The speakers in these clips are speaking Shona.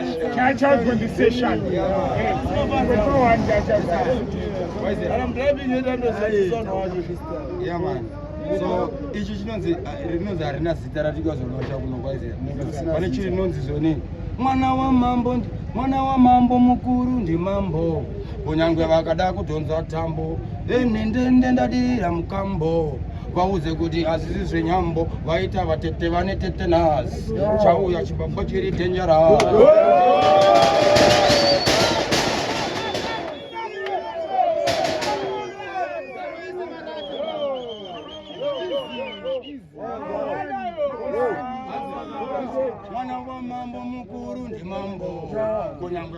Child condensation. Yeah, man. so ichi chinonzi uh, rinonzi harina zita ratikazolosha kuno kwaizera pane chiri rinonzi zoni mwana wamambo mwana wamambo mukuru ndimambo kunyangwe vakada kudhonza tambo venhendende ndadirira mukambo vaudze kuti hazvisi zvenyambo vaita vatete vane tete nhasi chauya chibaba chiri dangerous mwana wamambo mukuru ndimambo kunyangwe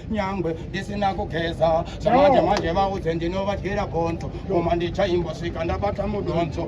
nyangwe ndisina kugeza zvamanje manje vaudze ndinovadyira gonzo koma ndichaimbosvika ndabata mudonzo